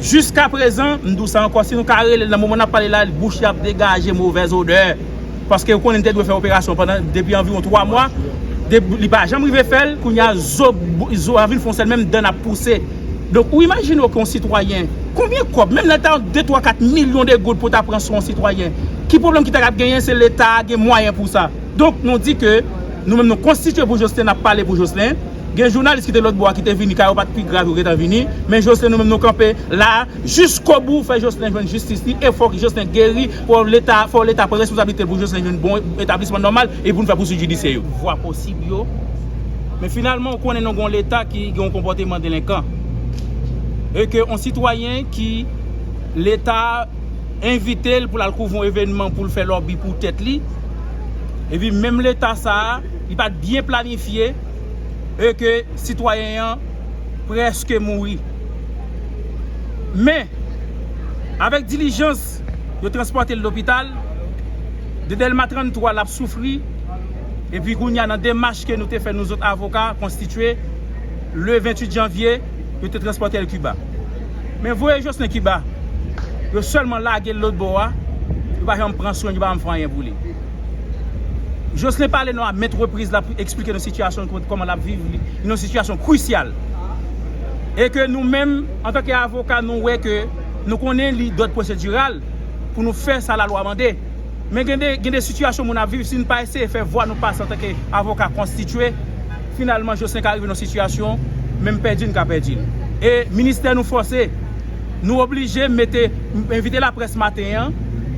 Jiska prezan, m di w sa ankò, si nou ka rele l nan moman n ap pale la, bouch li ap degaje movèz odè. Paske yo konnen li te dwe fè operasyon pandan depi anviwon 3 mwa, li pa janm rive fè l, kounye a zo a vin fon sèl menm dan n ap pouse. Donk ou imajine w ke yon sitwayen, konbyen kòb, menm lè l ta yon 2, 3, 4 milyon de goud pou w ta pran swen yon sitwayen, ki pwoblèm ki ta ap genyen, se leta a gen mwayen pou sa. Donk nou di ke nou menm nou konstitye pou Joslin, n ap pale pou Joslin. Gen jounalis ki te lòt bò a ki te vini ka yo pat pi grav yo gentan vini men Joslin nou menm nou kanpe la jiskobou fè Joslin jwenn jistis li e fòk Joslin geri fò leta fò leta pran responsablite l pou Joslin jwenn bon etablisman nòmal e pou nou fè pouswit jidisyè yo. vwa posib yo men finalman ou konnen nou gen yon leta ki gen yon konpòteman delenkan e ke yon sitwayen ki leta envite l pou l al kouvri yon evènman pou l fè lòbi pou tèt li epi menm leta sa a li pat byen planifye e ke sitwayen an preske mouri. Men, avèk dilijans, yo transpòte l lopital, de Dèlma 33 l ap soufri, epi kounye a nan demach ke nou te fè nou zot avoka konstitye, le 28 janvye, yo te transpòte l Kiba. Men voye Jocelin Kiba, yo sèlman lage l lotbò a, yo pa janm pran swen l, yo pa janm fè anyen pou li. Joslin pale nou a mèt repriz lap esplike nou sitiyasyon l kòman lap viv li nan yon sitiyasyon krisyal e ke nou menm antanke avoka nou wè ke nou konnen li dòd pwosediral pou nou fè sa lalwa mande men gen de gen de sitiyasyon moun ap viv si nou pa eseye fè vwa nou pase antanke avoka konstitye finalman Joslin ka rive nan yon sitiyasyon menm pèdi l ka pèdi l e ministè nou fòse. Nou oblije mete envite laprès maten an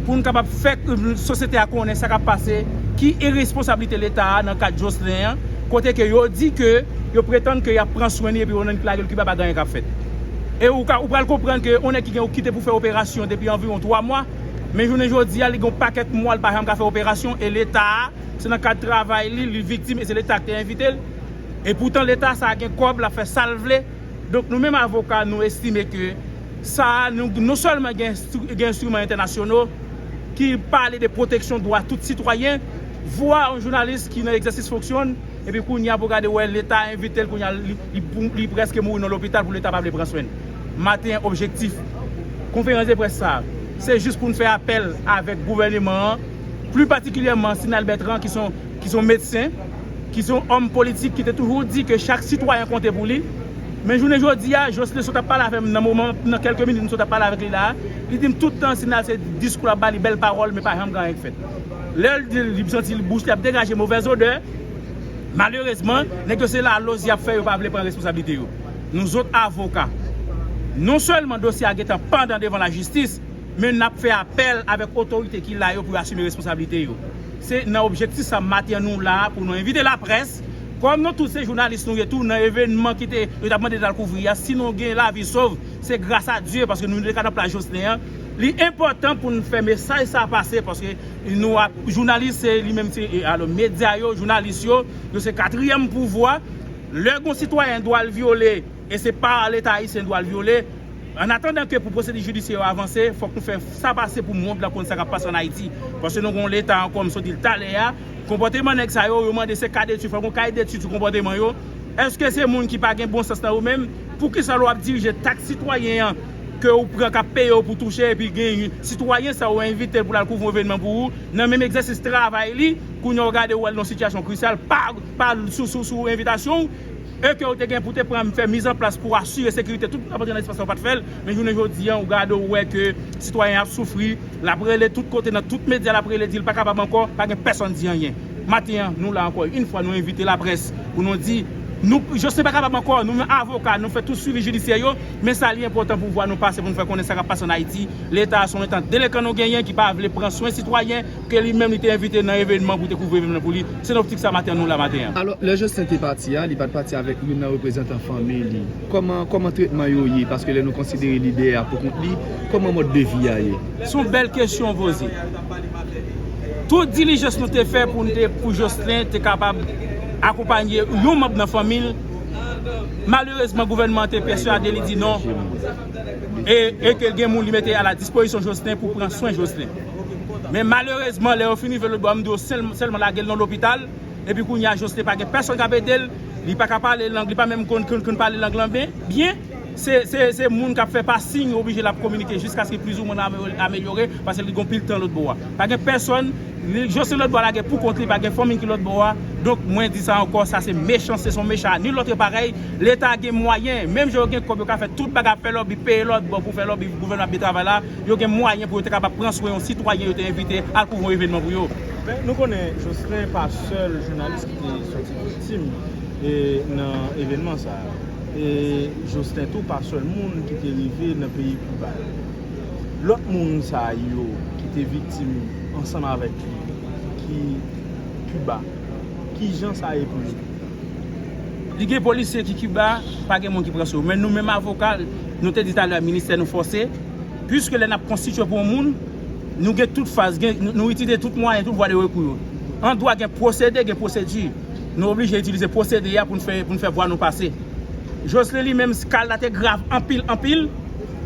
pou n kapab fè sosyete a konnen sa k ap pase, ki iresponsablite Leta a nan ka Joslin an, kote ke yo di ke yo pretann ke y ap pran swen li epi onnen ki lage l Kiba pa gen anyen k ap fèt. E ou ka ou pral konprann ke yon nèg ki gen ou kite pou fè operasyon depi anviwon 3 mwa, men jounen jodi a li gen yon pakèt mwa li pa janm ka fè operasyon e Leta a se nan kad travay li li viktim e se Leta ki te envite l. E poutan Leta sa a gen kòb l ap fè sa l vle. Donk nou menm avoka nou estime ke sa a non sèlman gen enstriman entènasyono ki pale de pwoteksyon dwa tout sitwayen, vwa yon jounalis ki nan egzèsis fonksyon l epi kounye a pou gade wè leta envite l kounye a li prèske mouri nan lopital pou leta pa vle pran swen l. Maten objektif konferans de près sa a se jis pou n fè apèl avèk gouvèneman an pli patikilyèman Sinal Bètran ki son medsen. ki se yon òm politik ki te toujou di ke chak sitwayen konte pou li, men jounen jodi a, Jocelerme sot ap pale avè m nan moman, nan kèlke minit m sot ap pale avèk li la a, li di m tout tan Sinal se diskou l ap ba li, bèl pawòl, men pa janm gen anyen k fèt. Lè l di l li santi l bouch li ap degaje movèz odè, malerezman, nèg yo se laloz y ap fè yo pa vle pran responsablite yo. Nou zot avoka, non sèlman dosye a gen tan pandan devan lajistis, men n ap fè apèl avèk otorite ki la yo pou yo asime responsablite yo. Se nan objektif sa maten an nou la a pou nou envite laprès, kòm nou tout se jounalis nou ye tou nan evènman ki te yo t ap mande nou al kouvri a, si nou gen lavi sov se gras a Dye paske nou te ka nan plas Joslin an, li enpòtan pou nou fè mesaj sa pase paske nou ap jounalis se li menm se alo medya yo, jounalis yo, yo se katriyèm pouvwa, lè gon sitwayen dwa l vyole. E se pa leta ayisyen dwa l vyole. An atandan ke pou pwosedi jidisyè yo avanse, fòk nou fè sa pase pou mond lan konn sa k ap pase an Ayiti. Paske nou gen yon leta ankò, m sot di l talè a, konpòteman nèg sa yo, yo mande se ka detid, fòk gen yon kaye detid sou konpòteman yo. Eske se moun ki pa gen bon sans nan yo menm? Poukisa lè w ap dirije taks sitwayen an ke ou pran k ap peye w pou touche epi gen yon sitwayen sa ou envite l pou l al kouvri yon evenman pou ou nan menm egzèsis travay li, kounye a w gade ou al nan yon sitiyasyon krisyal pa sou envitasyon w? E ke ou te gen pou te pran fè miz an plas pou asire sekirite tout moun kap antre nan espas la ou pat fèl, men jounen jodi an ou gade ou wè ke sitwayen an ap soufri, lap rele tout kote nan tout medya lap rele dil pa kapab ankò, pa gen pèsòn di anyen. Maten an nou la ankò yn fwa nou envite laprès pou nou di nou Jocelin pa kapab ankò, nou menm avoka nou fè tout swivi jidisyè yo, men sa li enpòtan pou vwa nou pase pou nou fè konnen sa kap pase an Ayiti, leta a son entant delekan nou genyen ki pa vle pran swen sitwayen, Ke li menm li te envite nan evenman pou te kouvri evenman nan pou li. Se nan optik sa maten an nou la maten an. Alò, lè Joslin te pati a, li pa t pati avèk youn nan reprezantan fanmi li. Kòman, kòman tretman yo ye? Paske lè nou konsidere lidè a pou kont li, kòman mòd de vi a ye? Se yon bèl kesyon w poze. Tout dilijans nou te fè pou n te, pou Joslin te kapab akonpanye yon manb nan fanmi l, malerezman gouvènman an te pèswade li di non. e ke gen moun li mete a la dispozisyon Joslin pou pran swen Joslin. Men malerezman lè yo fin rive lotbò yo mande yo sèlman lage l nan lopital epi kounye a Joslin pa gen pèsonn k ap ede l, li pa ka pale lang, li pa menm konn pale lang lan byen, se moun k ap fè pa siy yo oblije l ap kominike jiskaske plizoumwen l amelyore paske li gen yon pil tan lotbò a. Pa gen pèsonn, Joslin lotbò a lage pou kont li, pa gen fanmi ki lotbò a, donk mwen di sa ankò, sa se mechanste, se yon mechan a nil lòtre parèy. Leta gen mwayen, menm jan yo gen kòb yo ka fè tout bagay ap fè lòbi, peye lòt bò pou fè lòbi pou gouvènman ap byen travay la, yo gen mwayen pou yo te kapab pran swen yon sitwayen yo te envite al kouvri yon evènman pou yo. Men nou konnen Jocelin pa sèl jounalis ki te sòti viktim nan evènman sa a. E Jocelin tou pa sèl moun ki te rive nan peyi Kiba. Lòt moun sa yo ki te viktim ansanm avèk li ki Kiba, ki jan sa ye pou yo? Li gen polisye ki Kiba, pa gen moun ki pran sou yo. Men nou menm avoka, nou te di talè a ministè nou fòse, puiske lè n ap konstitye pou yon moun, nou gen tout faz, nou itilize tout mwayen, tout vwa de rekou yo. An dwa gen pwosede, gen pwosedi. Nou oblije itilize pwosede a pou n fè vwa nou pase. Joslin li menm, ka l la te grav anpil, anpil.